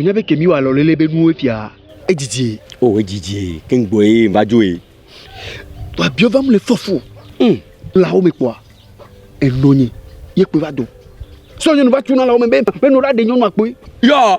wònya be kemi wa lɔlele be nuwo fia edzidzi o oh, edzidzi keŋgbɔ ye va dzo ye to abiɔ va mu le fɔfo hmm. lawo me kpɔa enɔ nye ye kpe va dɔ sɔ nyɔnu va tuna lawo me be be nɔ ɖa de nyɔnu akpɔe yɔ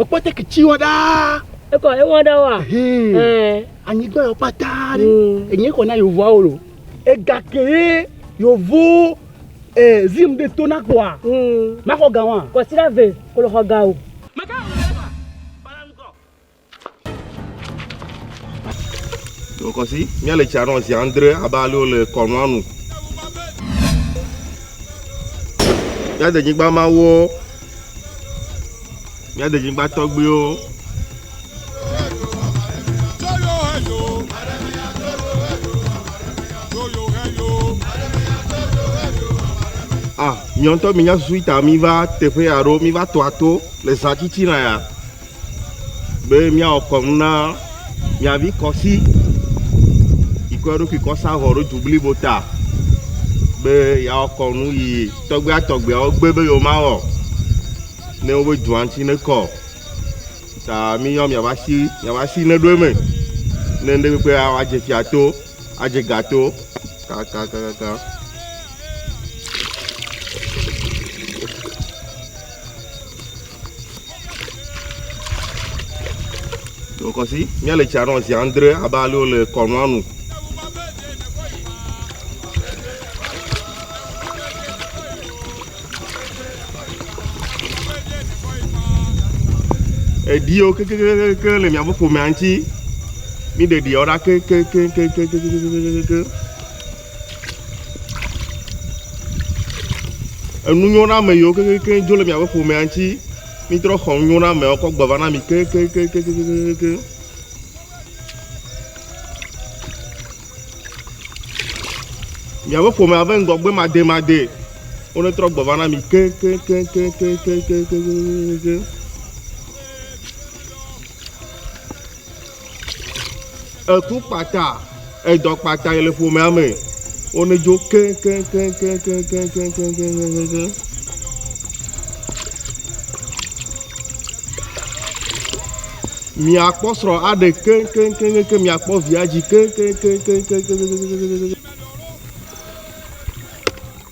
Ekpɔ te kitsi wɔ ɖaa. Ekɔ ewɔ ɖe wa. Anyigba yɔ pata ɖe. Hmm. Enye kɔ na yovua wo lo. Ega ke ye yovo eh, zim de to na kɔa. Hmm. Makɔ ga wa. Kɔ sira ve kolo xɔ ga o. Kɔsi, míale tsia nɔ zi andre abe ale wole kɔnua nu. Míade nyigba mawo, míade nyigba tɔgbuiwo. Ah, miɔntɔ mi nya susu ita mi va teƒe ya ɖo, mi va tɔa to le zã tsitsi na ya. be míawɔ kɔnu na mia vi kɔsi yi kɔ eɖokui kɔ sa vɔ ɖo du blibo ta be yeawɔ kɔnu yi tɔgbia tɔgbiawo gbe be yewomawɔ ne wobe dua ŋuti ne kɔ ta míyɔ miaƒe asi miaƒe asi ne ɖo eme ne ŋɖe kpekpe awɔ adze fia to adze ga to kakakakaka. Wokɔsi míale tsia nɔ zi andre abe ale wole kɔnua nu. Eɖiwo kekekekeke le miaƒe ƒomea ŋuti. Mi ɖeɖiawo ɖa kekekekekekekekekeke. Enunyɔname yiwo keŋkeŋkeŋ dzo le miaƒe ƒomea ŋuti, mitrɔ xɔ nunyɔnameawo kɔ gbe va na mi keŋkeŋkeŋkeŋkeŋkeŋ. Miaƒe ƒomea ƒe ŋgɔgbe mademade wonetrɔ gbe va na mi keŋkeŋkeŋkeŋkeŋkeŋkeŋkeŋkeŋ. Eku kpata, edɔ kpata yi le ƒomea me. Wone dzo keŋkeŋkeŋ. Miakpɔ srɔ̃ aɖe keŋkeŋkeŋkeŋ, miakpɔ via dzi keŋkeŋkeŋkeŋkeŋkeŋkeŋkeŋkeŋ.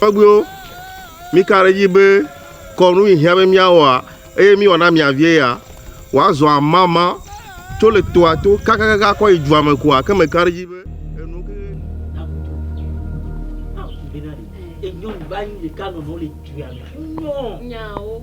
Tɔgbuiwo, mika ɖe edzi be kɔnu yi hiã be míawɔa eye míwɔ na mia vie ya? Wòazɔ amama tso le toa to kakakaka akɔ yi dua me koa? Ke meka ɖe edzi be enu ke. Nyawo.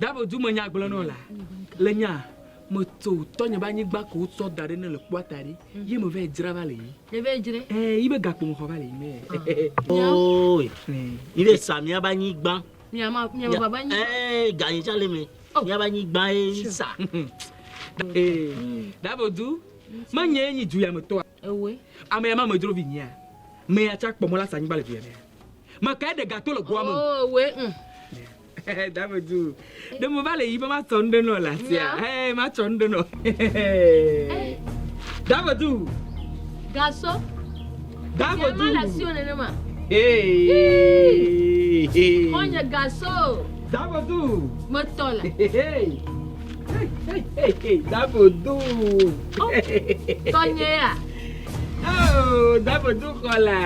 Davo du me nya gblɔnɔ la le nya me tso tɔnye be anyigba ko tsɔ da ɖe ne le kpɔa ta ɖi yi me vɛ dzra va le yi ne vɛ dzre eh yi be gakpo me xɔ va le yi me oh yi be sa mia ba anyigba mia ma mia ba ba anyigba eh ganyi tsa le me oh. mia ba anyigba e sa eh davo du me nye nyi du ya me tɔa Ewe. Amea ma medro vinyea? Mea tsa kpɔ mɔ la sa anyigba le duyemea? Me kae ɖe gato le goa me? Oh, ewe. Mm. Dame du. Ɖe me va le yi be ma tsɔ nuɖe nɔ la tia. Hey, ma tsɔ nuɖe nɔ. Dame du. Gaso. Dame du. Ma la sio nene ma. Hey. Konye gaso. Dame du. Me tɔ la. Hey. Davo do. Tɔnye ya. Oh, Davo do kɔla.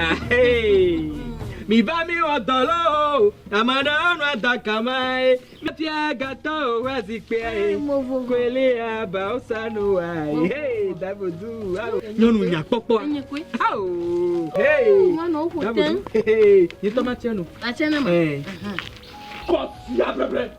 Mi va mi wɔ dɔ lɔ o. Ame aɖewo nɔ adɔ kama ye. Mefia gatɔ o wa zikpea ye. Kwele aba o sa no wa ye. Davo do. Nyɔnu nya kpɔkpɔ. Awo. Davo do. Yitɔ ma tiɛ no. Atsɛ ne ma. Kɔ ya bɛbɛ.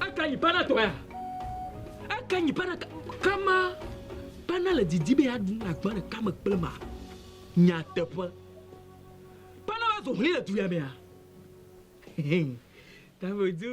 Aka nyi pana tɔa? Aka nyi pana kama pana le didi be aɖu na gbã ɖeka me kple ma. Nyateƒe. Pana va zo hlĩ le du ya mea. Tamedu.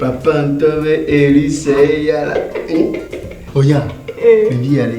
Papa ŋutɔ be eri sɛ eya la. Oya, ɖevi ya le.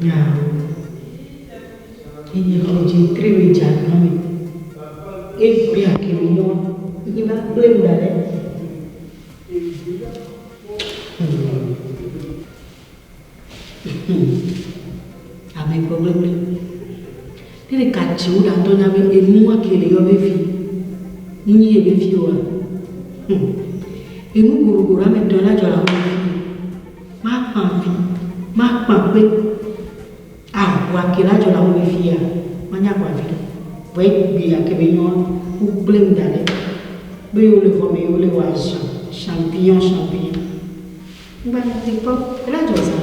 Nya enye kidze tri we dza kpame. E bia ke mi nyo yi ba kple mi dale. Ame gbogbo gbe. Ele ka ci wo ɖa dɔ nya be enu ake le yɔ vevi ni nyi ye vevi oa? Hum! Enu goɖogoɖo ame tɔn la jɔ le awu vevi ni. Ma kpa vi, ma kpa kpe. Ahu ake la jɔ le awu vevi ya, ma nya agba viɖe. Vɔ ye gbe ake be nyɔa, wo kple ŋ daɖe. Be yewo le vɔ me yewo le wa ʒan, champignon, champignon. Ŋgba nya te kpɔ. Ela jɔ zan.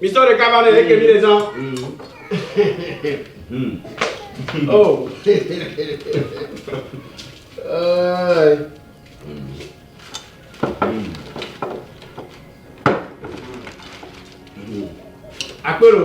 Mi tɔ ɖeka va ne eke mi le zan. Oh. Akpero.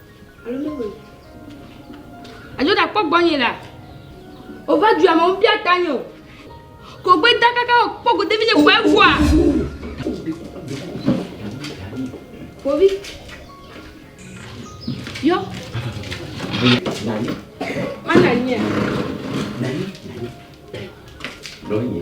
Alo mewɔe. Alo ɖakpɔ gbɔnye la. Ova du ame wo bia ta nyo. Ko gbe da kaka o kpɔ go devi nye ko evua. Kovi. Yo. Mana nye. Nani, nani. Lonye.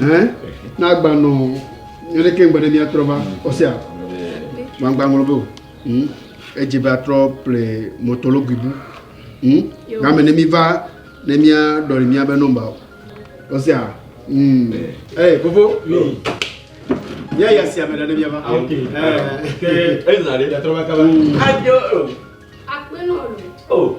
Ɛɛ, na agba nɔ nyɔ ɖe keŋ gbede mía trɔ va ɔsia. Gbangba ŋlɔ be o. Hm, edze be atrɔ ple mɔtɔlo guibu. Hm, game ne mi va ne mía ɖɔli mía be nɔmba o. Ɔsia. Hm. Ɛɛ, eh, fofo. Hm. Mía ya sia me ɖe ne mía va. Ok. Ɛɛ. Ke ezã ɖe ya trɔ va kaba. Hm. Ajo. Akpe nɔ lo. Oh.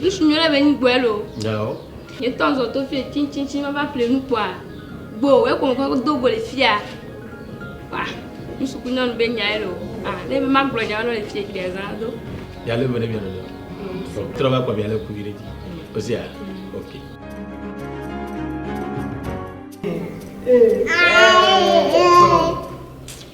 Nusi nyo ɖe be nyi gbɔɛ lo. Yao. Nye tɔ zɔ to fie tsitsitsiŋ va va ƒle nu kpɔa. Gbo, wɛ kɔ mɔkɔ do go le fia. Wa, nusi ku nyɔnu be nyaɛ lo. Ah, ne be ma gblɔ nyaɛ lo le fie gbea zã do. Ya le vene vene lo. Mm. Trɔ va kpɔ bia le kuvi ɖe dzi. Osia, mm. ok. Eh, eh, eh, eh.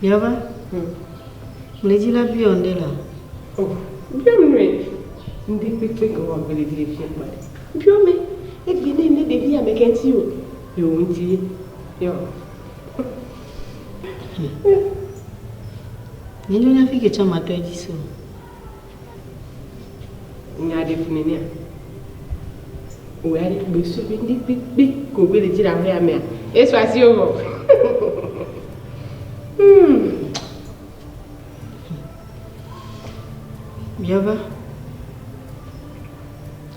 Biava, Hm, ŋlidzi la biɔ ŋɖe la? Oh, biɔ nue, ŋɖe kpekpe ke wɔ ŋlidzi le fiɛ kpɔ ɖe. Biɔ mɛ, egbe nɛ ŋɖe ɖevi ya mɛkɛ ŋti o, yɔ wo ŋti ye, yɔ. Hm, menyo nya fike tsã matɔ edzi se o. Nya ɖe fu nɛnɛa? O ya ɖe gbe so be ndi kpekpe ko gbe le dzi la hoya mea. Eso asi o. Hmm. Biava.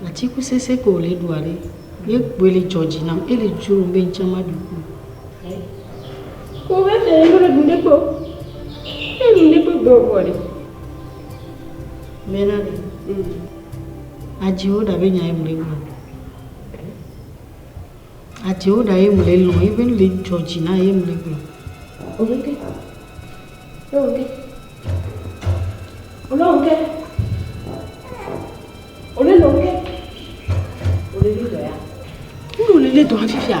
Atiku sese ko le dua ɖe. Ye gbe le jɔji nam e le jo be nchama du ko. Ko be fe le dun de ko. E dun de ko gbe o ko de. Mena ɖe. Mm. Adziwo ɖa be nya ye mle gblɔ. Adziwo ɖa ye mle lɔ ye be le dzɔ dzi na ye mle gblɔ. Oke. Oke. Ole oke. Ole le oke. Ole le dɔ ya. Unu le le dɔ afifia.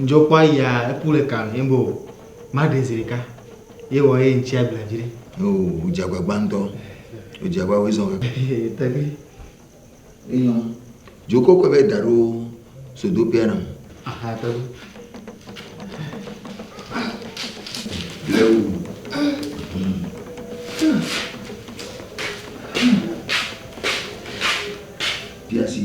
Ŋdzɔ kpɔ aya eku le ka ye bo ma ɖe zi ɖeka ye wɔ ye ŋtsi agble dzi ɖe. O o dzi agbagba ŋtɔ. O dzi agba wo izɔ me. Tagli. Eyɔ. Dzo kɔkɔ be da ɖo sodo pia na. Aha tagli. Lewu. Piasi.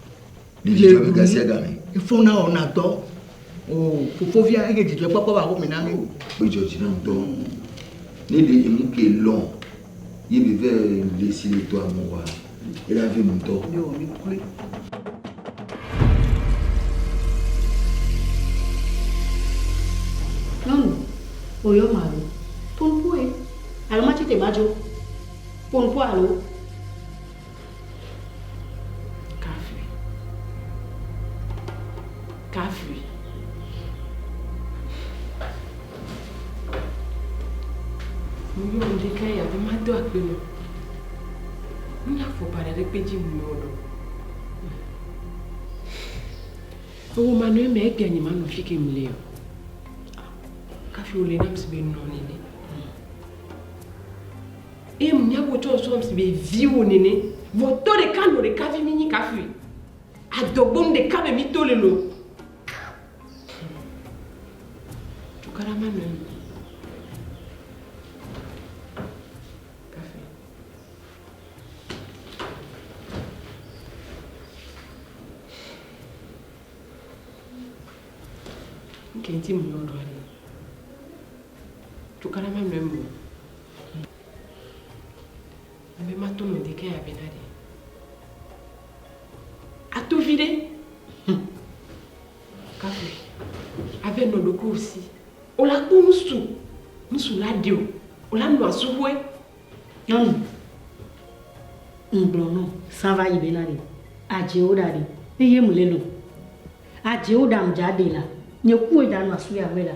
Mílé nu efona wɔna dɔ o fofovia ege dzidzɔkpɔkpɔ ba home na mí o. Gbedzɔ dzi na dɔ ne ɖe emu ke lɔ ye mi vɛ le si le dɔa me wa ye la vi ŋutɔ. Nyɔnu oyɔ malo ponpoe alo ma tete ma dzo ponpoe alo. kafui, kafui. Muyɔ ŋɖekɛ ya be mado akpe nɔ. Ŋnya fɔkpa ɖe ɖekpe dzi muyɔ ɖo. Ewo ma nɔ eme egbe anyi ma nɔ fi ke mle o. Kafui wole nam si be nɔ nene. Eye miawo tsɔ nsɔ ŋsi be viwo nene. Vɔ tɔ ɖeka nɔ ɖeka vi minyi kafui adɔgbo nu ɖeka be mito le lo. Cukaɖa ma nɔe. Kenti mu yɔɖɔ ale. Cukaɖa ma nɔe mu. Ebe mato nɔ deke ya be ɖaɖe. Ato vi ɖe. Hm. Kafe. Ave nɔ ɖoko osi. Ola kpo nusu. Nusu la ɖe o. Ola nɔ asuhoe. Nyɔnu. Ŋgblɔ nɔ. Sava yi be naɖe. Adze o ɖaɖe. Eye mu lelo. Adze o ɖam dza ɖe la. Nye kuwe ɖa nɔ asu ya ŋue la.